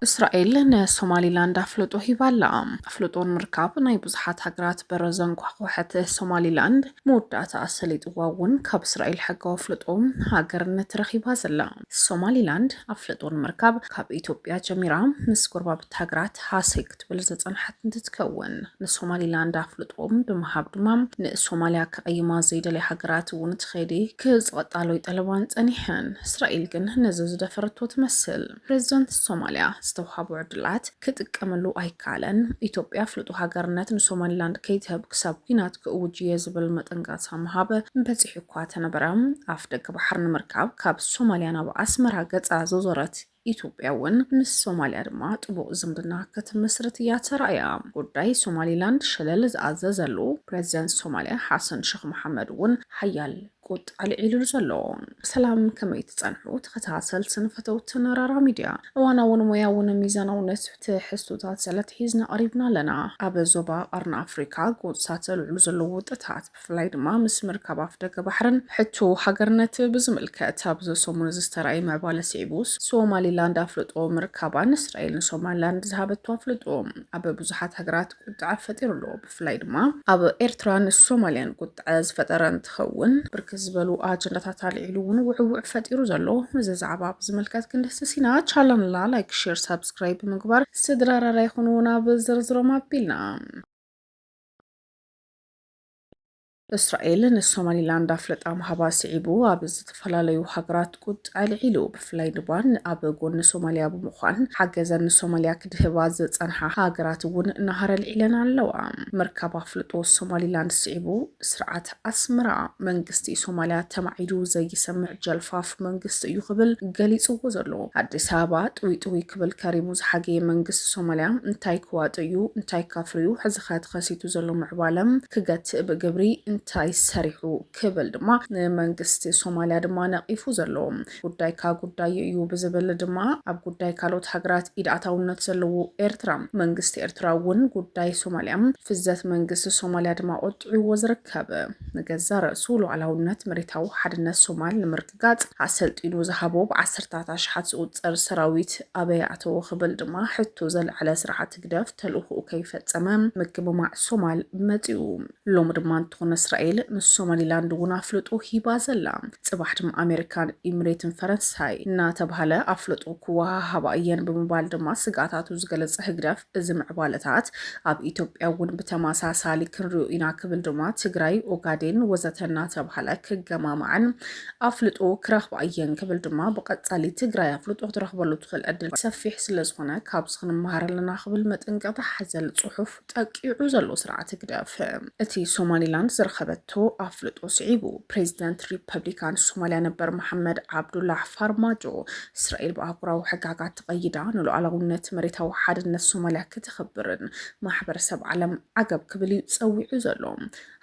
እስራኤል ንሶማሊላንድ ኣፍልጦ ሂባ ኣላ። ኣፍልጦ ንምርካብ ናይ ብዙሓት ሃገራት በረ ዘንኳሕኳሐት ሶማሊላንድ መወዳእታ ኣሰሊጥዋ እውን ካብ እስራኤል ሕጋዊ ኣፍልጦ ሃገርነት ረኺባ ዘላ። ሶማሊላንድ ኣፍልጦ ንምርካብ ካብ ኢትዮጵያ ጀሚራ ምስ ጎረባብቲ ሃገራት ሃሰይ ክትብል ዝጸንሓት እንትትከውን ንሶማሊላንድ ኣፍልጦ ብምሃብ ድማ ንሶማልያ ከቐይማ ዘይደልያ ሃገራት እውን እቲ ከይዲ ክጽቐጣሎይ ጠለባን ጸኒሐን። እስራኤል ግን ነዚ ዝደፈረቶ ትመስል። ፕሬዚደንት ሶማልያ ዝተውሃቦ ዕድላት ክጥቀመሉ ኣይከኣለን። ኢትዮጵያ ኣፍልጦ ሃገርነት ንሶማሊላንድ ከይትህብ ክሳብ ኲናት ክእውጅ እየ ዝብል መጠንቀቕታ ምሃብ በጺሑ እኳ ተነበረ ኣፍደገ ቀይሕ ባሕሪ ንምርካብ ካብ ሶማልያ ናብ ኣስመራ ገጻ ዘዞረት ኢትዮጵያ'ውን ምስ ሶማልያ ድማ ጥቡቕ ዝምድና ክትምስርት እያ ተራእያ። ጉዳይ ሶማሊላንድ ሸለል ዝኣዘዘሉ ፕረዚደንት ሶማልያ ሓሰን ሸኽ መሓመድ'ውን ሓያል ቁጣ ኣልዒሉሉ ዘሎ። ሰላም ከመይ ትጸንሑ ተኸታተልትን ፈተውትን ራራ ሚድያ፣ እዋናውን ሞያውን ሚዛናውነት ትሕዝቶታት ሰለትሒዝና ቀሪብና ኣለና። ኣብ ዞባ ቀርኒ ኣፍሪካ ጎንፅታት ዘልዕሉ ዘለዉ ውጥታት፣ ብፍላይ ድማ ምስ ምርካብ ኣፍደገ ባሕርን ሕቶ ሃገርነት ብዝምልከት ኣብዚ ሰሙን እዚ ዝተራእየ ምዕባለ ስዒቡ ሶማሊላንድ ኣፍልጦ ምርካባን እስራኤል ንሶማሊላንድ ዝሃበቶ ኣፍልጦ ኣብ ብዙሓት ሃገራት ቁጥዐ ፈጢሩ ኣሎ። ብፍላይ ድማ ኣብ ኤርትራን ሶማልያን ቁጥዐ ዝፈጠረ እንትኸውን ብርክት ዝበሉ ኣጀንዳታት ኣልዒሉ እውን ውዕውዕ ፈጢሩ ዘሎ እዚ ዛዕባ ብዝምልከት ክንድህስስ ኢና። ቻለንላ ላይክ፣ ሼር፣ ሳብስክራይብ ብምግባር ስድራ ራራ ይኹኑ። ናብ ዝርዝሮም ኣቢልና። እስራኤል ንሶማሊላንድ ኣፍልጣ ምሃባ ስዒቡ ኣብ ዝተፈላለዩ ሃገራት ቁጣ ኣልዒሉ። ብፍላይ ድማ ኣብ ጎኒ ሶማልያ ብምዃን ሓገዘን ንሶማልያ ክድህባ ዝጸንሓ ሃገራት እውን ናህሪ ኣልዒለን ኣለዋ። ምርካብ ኣፍልጦ ሶማሊላንድ ስዒቡ ስርዓት ኣስመራ መንግስቲ ሶማልያ ተማዒዱ ዘይሰምዕ ጀልፋፍ መንግስቲ እዩ ክብል ገሊጽዎ ዘሎ። ኣዲስ ኣበባ ጥውይጥውይ ክብል ከሪሙ ዝሓገየ መንግስቲ ሶማልያ እንታይ ክዋጥ እዩ እንታይ ካፍርዩ ሕዚኸ ተኸሲቱ ዘሎ ምዕባለ ክገትእ ብግብሪ እንታይ ሰሪሑ ክብል ድማ ንመንግስቲ ሶማልያ ድማ ነቒፉ ዘሎ ጉዳይካ ጉዳዩ እዩ ብዝብል ድማ ኣብ ጉዳይ ካልኦት ሃገራት ኢድ ኣታውነት ዘለዎ ኤርትራ መንግስቲ ኤርትራ እውን ጉዳይ ሶማልያ ፍዘት መንግስቲ ሶማልያ ድማ ቆጢዕዎ ዝርከብ ንገዛ ርእሱ ሉዓላውነት መሬታዊ ሓድነት ሶማል ንምር ጋጽ ኣሰልጢኑ ዝሃቦ ብዓሰርታት ኣሽሓት ዝቑጸር ሰራዊት ኣበይ ኣተዎ ክብል ድማ ሕቶ ዘልዐለ ስርዓት ህግደፍ ተልእኾኡ ከይፈጸመ ምግምማዕ ሶማል መጺኡ። ሎሚ ድማ እንተኾነ እስራኤል ንሶማሊላንድ እውን ኣፍልጦ ሂባ ዘላ። ጽባሕ ድማ ኣሜሪካን ኢምሬትን ፈረንሳይ እናተብሃለ ኣፍልጦ ክወሃሃባ እየን ብምባል ድማ ስግኣታቱ ዝገለጸ ህግደፍ፣ እዚ ምዕባለታት ኣብ ኢትዮጵያ እውን ብተመሳሳሊ ክንሪኦ ኢና ክብል ድማ ትግራይ፣ ኦጋዴን ወዘተ እናተባህለ ክገማማዕን ኣፍልጦ ክረኽባ እየን ክብል ድማ ብቐጻሊ ትግራይ ኣፍልጦ ክትረኽበሉ ትኽእል ዕድል ሰፊሕ ስለዝኾነ ካብዚ ክንመሃር ኣለና ክብል መጠንቀቕታ ሓዘል ጽሑፍ ጠቂዑ ዘሎ ስርዓት ህግደፍ እቲ ሶማሊላንድ ዝረኸበቶ ኣፍልጦ ስዒቡ ፕሬዚደንት ሪፐብሊካን ሶማሊያ ነበር መሓመድ ዓብዱላህ ፋርማጆ እስራኤል ብኣህጉራዊ ሕጋጋት ተቐይዳ ንሉዓላውነት መሬታዊ ሓድነት ሶማልያ ክተኽብርን ማሕበረሰብ ዓለም ዓገብ ክብል እዩ ፀዊዑ ዘሎ።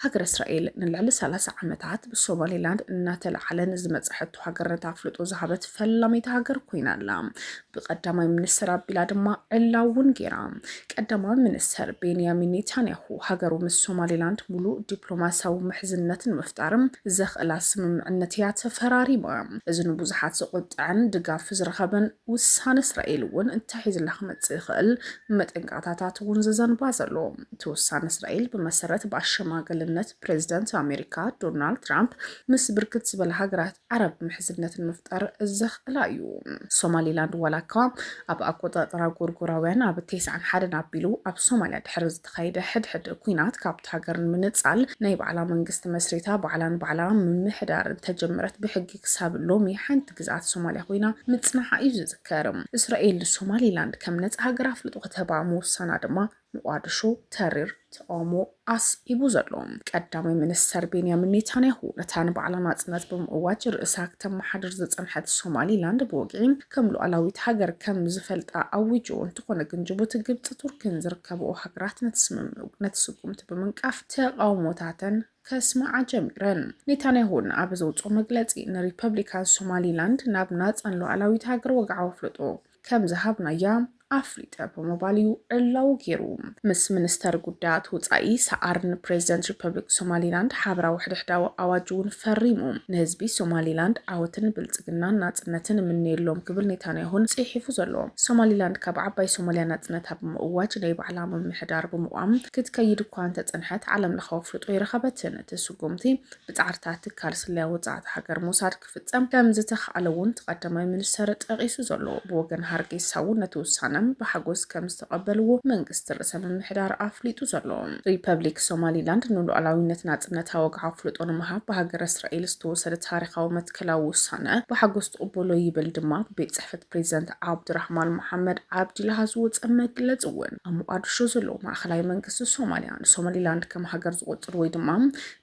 ሃገረ እስራኤል ንልዕሊ ሰላሳ ዓመታት ብሶማሌላንድ እናተለዓለ ንዝመፀ ሕቶ ሃገርነት ኣፍልጦ ዝሃበት ፈላመይቲ ሃገር ኮይና ኣላ። ብቀዳማይ ሚኒስትር ኣቢላ ድማ ዕላው እውን ገይራ። ቀዳማይ ሚኒስተር ቤንያሚን ኔታንያሁ፣ ሃገሩ ምስ ሶማሊላንድ ምሉእ ዲፕሎማስያዊ ምሕዝነት ንምፍጣር ዘኽእላ ስምምዕነት እያ ተፈራሪማ። እዚ ንብዙሓት ዘቖጥዐን ድጋፍ ዝረኸበን ውሳነ፣ እስራኤል እውን እንታይ ሒዝላ ክመጽእ ይኽእል መጠንቀቕታታት እውን ዘዘንባ ዘሎ። እቲ ውሳነ፣ እስራኤል ብመሰረት ብኣሸማገልነት፣ ፕሬዝደንት ኣሜሪካ ዶናልድ ትራምፕ ምስ ብርክት ዝበላ ሃገራት ዓረብ ምሕዝነት ንምፍጣር ዘኽእላ እዩ። ሶማሊላንድ ዋላ እኳ ኣብ ኣቆፃፅራ ጎርጎራውያን ኣብ ቴስዓን ሓደን ኣቢሉ ኣብ ሶማልያ ድሕሪ ዝተኻየደ ሕድሕድ ኩናት ካብቲ ሃገር ንምንፃል ናይ ባዕላ መንግስቲ መስሪታ ባዕላ ንባዕላ ምምሕዳር እንተጀመረት ብሕጊ ክሳብ ሎሚ ሓንቲ ግዝኣት ሶማልያ ኮይና ምፅናሓ እዩ ዝዝከር። እስራኤል ንሶማሊላንድ ከም ነፃ ሃገር ኣፍልጦ ክትህባ ምውሳና ድማ ሞቓድሾ፣ ተሪር ተቓውሞ ኣስዒቡ ዘሎ ቀዳማይ ሚኒስተር ቤንያሚን ኔታንያሁ፣ ነታ ንባዕላ ናጽነት ብምእዋጅ ርእሳ ክተመሓድር ዝጸንሐት ሶማሊላንድ ብወግዒ ከም ሉኣላዊት ሃገር ከም ዝፈልጣ ኣዊጁ። እንተኾነ ግን ጅቡቲ፣ ግብጺ፣ ቱርኪን ዝርከበኦ ሃገራት ነቲ ስምምዕ ነቲ ስጉምቲ ብምንቃፍ ተቓውሞታተን ከስምዓ ጀሚረን። ኔታንያሁ ንኣበ ዘውጽኦ መግለጺ፣ ንሪፐብሊካን ሶማሊላንድ ናብ ናጻን ሉኣላዊት ሃገር ወግዓዊ ኣፍልጦ ከም ዝሃብናያ ኣፍሊጠ ብምባል እዩ ዕላዊ ገይሩ። ምስ ሚኒስተር ጉዳያት ወጻኢ ሰዓርን ፕሬዚደንት ሪፐብሊክ ሶማሊላንድ ሓበራዊ ሕድሕዳዊ ኣዋጅ እውን ፈሪሙ። ንህዝቢ ሶማሊላንድ ዓወትን ብልጽግናን ናጽነትን እምነየሎም ክብል ኔታንያሁን ጽሒፉ ዘሎ። ሶማሊላንድ ካብ ዓባይ ሶማሊያ ናጽነታ ብምእዋጅ ናይ ባዕላ ምምሕዳር ብምቛም ክትከይድ እኳ እንተጸንሐት ዓለምለኻዊ ኣፍልጦ ኣይረኸበትን። እቲ ስጉምቲ ብጻዕርታት ትካል ስለያ ወጻእቲ ሃገር ሞሳድ ክፍፀም ከምዝተኽኣለ እውን እቲ ቀዳማይ ሚኒስትር ጠቒሱ ዘሎ ብወገን ሃርጌሳ እውን ነቲ ውሳነ ብሓጎስ ከምዝተቐበልዎ መንግስቲ ርእሰ ምምሕዳር ኣፍሊጡ ዘሎ። ሪፐብሊክ ሶማሊላንድ ንሉኣላዊነት ናፅነታ ወግዓ ኣፍልጦ ንምሃብ ብሃገረ እስራኤል ዝተወሰደ ታሪኻዊ መትከላዊ ውሳነ ብሓጎስ ትቕበሎ ይብል ድማ ብቤት ፅሕፈት ፕሬዚደንት ዓብዱራሕማን መሓመድ ዓብዲላሃ ዝወፀ መግለፂ እውን። ኣብ ሞቓድሾ ዘለዉ ማእኸላይ መንግስቲ ሶማሊያ ንሶማሊላንድ ከም ሃገር ዝቖፅር ወይ ድማ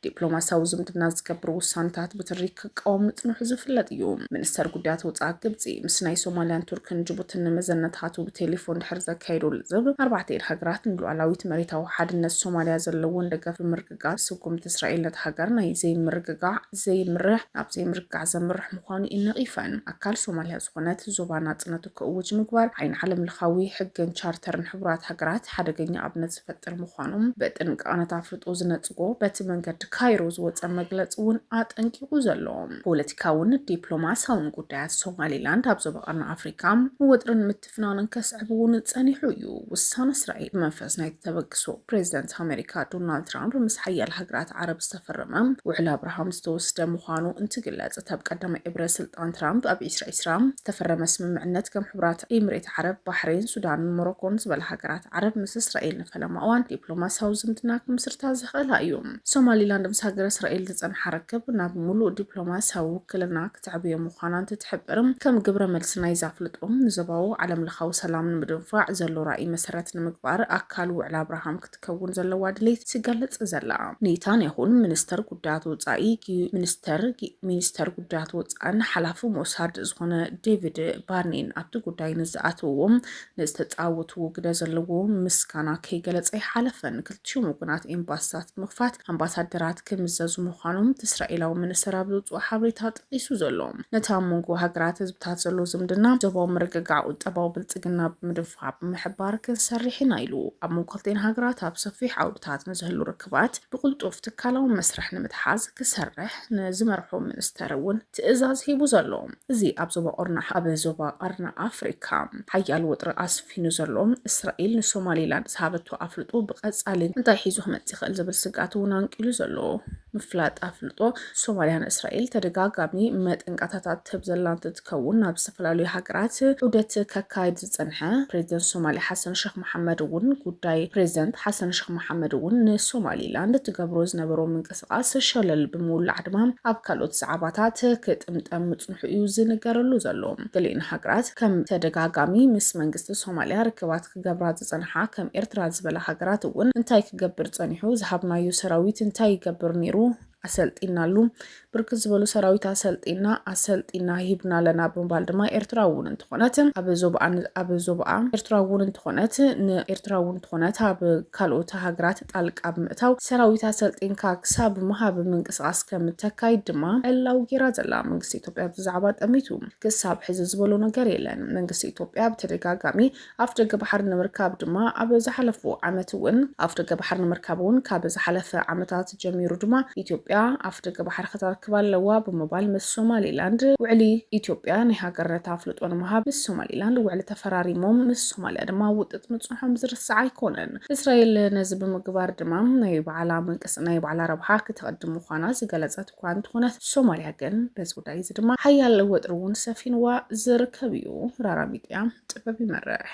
ዲፕሎማስያዊ ዝምድና ዝገብር ውሳኔታት ብትሪ ክቃወም ምጽንሑ ዝፍለጥ እዩ። ሚኒስተር ጉዳያት ወጻኢ ግብጺ ምስ ናይ ሶማልያን ቱርክን ጅቡትን ንመዘነታቱ ብቴሌፎን ድሕሪ ዘካየዶ ልዝብ፣ ኣርባዕቲኤን ሃገራት ንሉዓላዊት መሬታዊ ሓድነት ሶማልያ ዘለወን ደገፍ ብምርግጋጽ ስጉምቲ እስራኤል ነታ ሃገር ናይ ዘይምርግጋዕ ዘይምርሕ ናብ ዘይምርግጋዕ ዘምርሕ ምዃኑ እዩ ነቒፈን። ኣካል ሶማልያ ዝኾነት ዞባ ናጽነቱ ክእውጅ ምግባር ዓይኒ ዓለምለኻዊ ሕግን ቻርተርን ሕቡራት ሃገራት ሓደገኛ ኣብነት ዝፈጥር ምዃኑ ብጥንቃቐ ነታ ኣፍልጦ ዝነጽጎ ሜክሲኮ በቲ መንገዲ ካይሮ ዝወፀ መግለፂ እውን ኣጠንቂቑ ዘሎ ፖለቲካውን ዲፕሎማሲያውን ጉዳያት ሶማሊላንድ ኣብ ዞባ ቀርኒ ኣፍሪካ ወጥርን ምትፍናንን ከስዕብ እውን ፀኒሑ እዩ። ውሳነ እስራኤል ብመንፈስ ናይቲ ተበግሶ ፕሬዚደንት ኣሜሪካ ዶናልድ ትራምፕ ምስ ሓያል ሃገራት ዓረብ ዝተፈረመ ውዕል ኣብርሃም ዝተወስደ ምዃኑ እንትግለፅ እታ ብቀዳማይ እብረ ስልጣን ትራምፕ ኣብ ዒስራ ዒስራ ዝተፈረመ ስምምዕነት ከም ሕቡራት ኢምሬት ዓረብ፣ ባሕሬን፣ ሱዳንን ሞሮኮን ዝበላ ሃገራት ዓረብ ምስ እስራኤል ፈለማ እዋን ዲፕሎማስያዊ ዝምድና ክምስርታ ዝኽእላ እዩ። ሶማሊላንድ ምስ ሃገረ እስራኤል ዝጸንሓ ርክብ ናብ ምሉእ ዲፕሎማስያዊ ውክልና ክትዕብዮ ምዃና እንትትሕብር፣ ከም ግብረ መልሲ ናይዚ ኣፍልጦ፣ ንዞባዊ ዓለምለኻዊ ሰላም ንምድንፋዕ ዘሎ ራእይ መሰረት ንምግባር ኣካል ውዕል ኣብርሃም ክትከውን ዘለዋ ድሌት ትገልጽ ዘላ። ኔታንያሁን ሚኒስተር ጉዳያት ወጻኢ ሚኒስተር ሚኒስተር ጉዳያት ወጻእን ሓላፊ ሞሳድ ዝኾነ ዴቪድ ባርኔን ኣብቲ ጉዳይ ንዝኣተውዎ ንዝተፃወትዎ ግደ ዘለዎ ምስጋና ከይገለፀ ኣይሓለፈን። ክልቲኦም ወገናት ኤምባሲታት ብምኽፋት ኣምባሳደራት ክምዘዙ ምዃኖም እቲ እስራኤላዊ ሚኒስተር ኣብ ዘውፅኦ ሓበሬታ ጠቒሱ ዘሎ ነቲ ኣብ መንጎ ሃገራት ህዝብታት ዘሎ ዝምድና ዞባዊ ምርግጋዕ ቁጠባዊ ብልፅግና ብምድንፋዕ ብምሕባር ክንሰርሕ ኢና ኢሉ። ኣብ መንጎ ክልቲኤን ሃገራት ኣብ ሰፊሕ ዓውድታት ንዝህሉ ርክባት ብቕልጡፍ ትካላዊ መስርሕ ንምትሓዝ ክሰርሕ ንዝመርሖ ሚኒስተር እውን ትእዛዝ ሂቡ ዘሎ። እዚ ኣብ ዞባ ቁርናዕ ኣብ ዞባ ቐርኒ ኣፍሪካ ሓያል ወጥሪ ኣስፊኑ ዘሎ እስራኤል ንሶማሌላንድ ዝሃበቶ ኣፍልጦ ብቐፃሊ እንታይ ሒዙ ክመፅእ ይኽእል ዝብል ስግኣት እውን ኣንቂሉ ዘሎ ምፍላጥ ኣፍልጦ ሶማሊያ ንእስራኤል ተደጋጋሚ መጠንቀታታት ትህብ ዘላ እንትትከውን ናብ ዝተፈላለዩ ሃገራት ዑደት ከካይድ ዝፀንሐ ፕሬዚደንት ሶማሊያ ሓሰን ሸክ መሓመድ እውን ጉዳይ ፕሬዚደንት ሓሰን ሸክ መሓመድ እውን ንሶማሌላንድ ትገብሮ ዝነበሮ ምንቅስ ምንቅስቓስ ሸለል ብምውላዕ ድማ ኣብ ካልኦት ዛዕባታት ክጥምጠም ምጽንሑ እዩ ዝንገረሉ ዘሎ። ገሊእን ሃገራት ከም ተደጋጋሚ ምስ መንግስቲ ሶማልያ ርክባት ክገብራ ዝጸንሓ ከም ኤርትራ ዝበላ ሃገራት እውን እንታይ ክገብር ጸኒሑ፣ ዝሃብናዮ ሰራዊት እንታይ ይገብር ነይሩ፣ ኣሰልጢናሉ፣ ብርክት ዝበሉ ሰራዊት ኣሰልጢና፣ ኣሰልጢና ሂብና ኣለና ብምባል ድማ ኤርትራ እውን እንተኾነት ኣብ ዞብኣ ኣብ ዞብኣ ኤርትራ እውን እንተኾነት ንኤርትራ እውን እንተኾነት ኣብ ካልኦት ሃገራት ጣልቃ ብምእታው ሰራዊት ኣሰልጢንካ ክሳብ ምሃብ ምንቅስቓስ ከም እተካይድ ድማ ዕላዊ ገይራ ዘላ መንግስቲ ኢትዮጵያ ኣብዚ ዛዕባ ጠሚቱ ክሳብ ሕዚ ዝበሎ ነገር የለን። መንግስቲ ኢትዮጵያ ብተደጋጋሚ ኣፍደገ ባሕሪ ንምርካብ ድማ ኣብ ዝሓለፉ ዓመት እውን ኣፍደገ ባሕሪ ንምርካብ እውን ካብ ዝሓለፈ ዓመታት ጀሚሩ ድማ ኢትዮጵያ ኣፍደገ ባሕሪ ከተርክብ ኣለዋ ብምባል ምስ ሶማሊላንድ ውዕሊ ኢትዮጵያ ናይ ሃገርነት ኣፍልጦ ንምሃብ ምስ ሶማሊላንድ ውዕሊ ተፈራሪሞም ምስ ሶማልያ ድማ ውጥጥ ምጽንሖም ዝርሳዕ ኣይኮነን። እስራኤል ነዚ ብምግባር ድማ ናይ ባዕላ ምንቅስ ናይ ባዕላ ረብሓ ክተቐድም ምዃና ዝገለጸት እኳ እንተኾነት፣ ሶማልያ ግን በዚ ጉዳይ እዚ ድማ ሓያል ወጥሪ እውን ሰፊንዋ ዝርከብ እዩ። ራራ ሚድያ፣ ጥበብ ይመርሕ!